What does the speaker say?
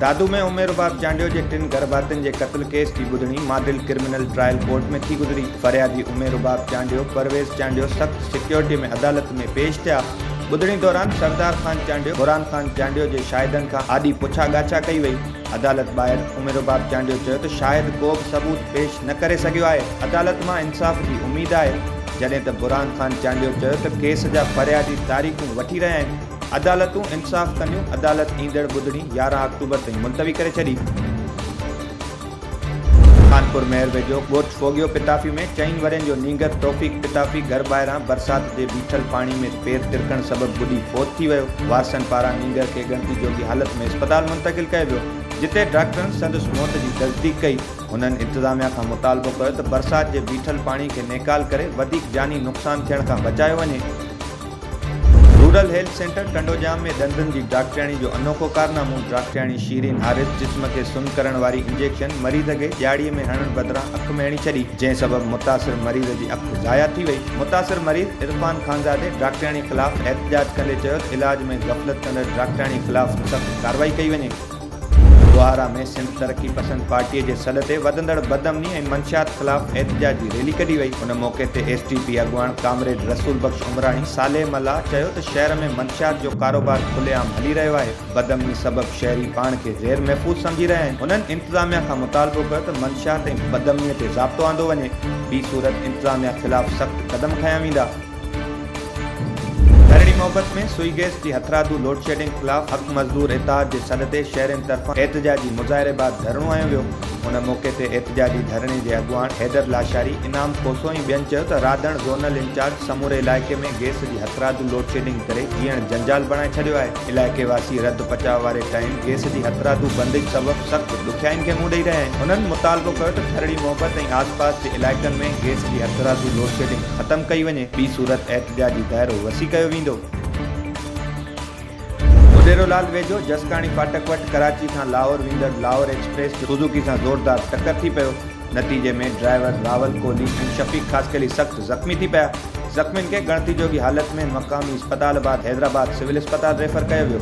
دادو ۾ عمر رباب چانڊيو جي ٽن گهر ڀاتين جي قتل ڪيس جي ٻڌڻي ماڊل ڪرمنل ٽرائل ڪورٽ ۾ ٿي گذري فريادي عمر رباب چانڊيو پرويز چانڊيو سخت سيڪيورٽي ۾ عدالت ۾ پيش ٿيا ٻڌڻي دوران سردار خان چانڊيو، قرآن خان چانڊيو جي شاهدن کان آڏي پڇا ڳاڇا ڪئي وئي، عدالت ٻاهر عمرباب چانڊيو چيو ته شاهد ڪوبه ثبوت پيش نه ڪري سگهيو آهي، عدالت مان انصاف جي اميد آهي، جڏهن ته برهان خان چانڊيو چيو ته ڪيس جا فريادي تاريخون وٺي رهيا آهن، عدالتون انصاف ڪنديون، عدالت ايندڙ ٻڌڻي يارهن آڪٽوبر تائين ملتوي ڪري ڇڏي. خانپور مهر ويجهو ڳوٺ ڦوڳيو پتافي ۾ چئن ورهين جو نينگر توفيق پتافي گهر ٻاهران برسات جي بيٺل پاڻي ۾ پير ترڪڻ سبب ٻڏي فوت ٿي ويو. وارثن پاران نينگر کي ڳڻتي جوڳي حالت ۾ اسپتال منتقل ڪيو ويو، جتي ڊاڪٽرن سندس موت جي تصديق ڪئي. هنن انتظاميا کان مطالبو ڪيو ته برسات جي بيٺل پاڻي کي نيڪال ڪري وڌيڪ جاني نقصان ٿيڻ کان بچايو وڃي. رورل هيلٿ سينٽر ٽنڊوڄام ۾ ڏندن جي ڊاڪٽرياڻي جو انوکو ڪارنامو، ڊاڪٽرياڻي شيرين حارث جسم کي سن ڪرڻ واري انجيڪشن مريض کي ڄاڙي ۾ هڻڻ بدران اک ۾ هڻي ڇڏي، جنهن سبب متاثر مريض جي اک ضايع ٿي وئي، متاثر مريض عرفان خانزادي ڊاڪٽرياڻي خلاف احتجاج ڪندي چيو ته علاج ۾ غفلت ڪندڙ ڊاڪٽرياڻي خلاف سخت ڪارروائي ڪئي وڃي. ٻهارا ۾ سنڌ ترقي پسند پارٽي جي سڏ تي وڌندڙ بدامني ۽ منشيات خلاف احتجاجي ريلي ڪڍي وئي، ان موقعي تي ايس ٽي پي اڳواڻ ڪامريڊ رسول بخش عمراڻي صالح ملاح چيو ته شهر ۾ منشيات جو ڪاروبار کلي عام هلي رهيو آهي، بدامني سبب شهري پاڻ کي غير محفوظ سمجهي رهيا آهن، هنن انتظاميا کان مطالبو ڪيو ته منشيات ۽ بدامني تي ضابطو آندو وڃي، ٻي صورت انتظاميا خلاف سخت قدم کنيا ويندا. ڌرڙي محبت ۾ سوئي گئس جي هٿرادو لوڊشيڊنگ خلاف حق مزدور اتحاد جي سڏ تي شهرين طرفان احتجاجي مظاهري بعد ڌرڻو هنيو ويو ان موقعي تي احتجاجي ڌرڻي جي اڳواڻ حيدر لاشاري، انعام کوسو ۽ ٻين چيو ته رادڻ زونل انچارج سموري علائقي ۾ گئس جي هٿرادو لوڊشيڊنگ ڪري جيئڻ جنجال بڻائي ڇڏيو آهي، علائقي واسي رڌ پچاء واري ٽائيم گئس جي هٿرادو بندش سبب سخت ڏکيائين کي منهن ڏئي رهيا آهن، هنن مطالبو ڪيو ته ڌرڙي محبت ۽ آسپاس جي علائقن ۾ گئس جي هٿرادو لوڊشيڊنگ. ختم ڪئي وڃي، ٻي صورت احتجاجي دائرو وسيع ڪيو ويندو. مونيرو لال ويجهو جسڪاڻي فاٽڪ وٽ ڪراچي کان لاهور ويندڙ لاهور ايڪسپريس جو سوزوڪي سان زوردار ٽڪر ٿي پيو، نتيجي ۾ ڊرائيور راول ڪولي ۽ شفيق خاصخيلي سخت زخمي ٿي پيا، زخمين کي ڳڻتي جوڳي حالت ۾ مقامي اسپتال بعد حيدرآباد سول اسپتال ريفر ڪيو ويو.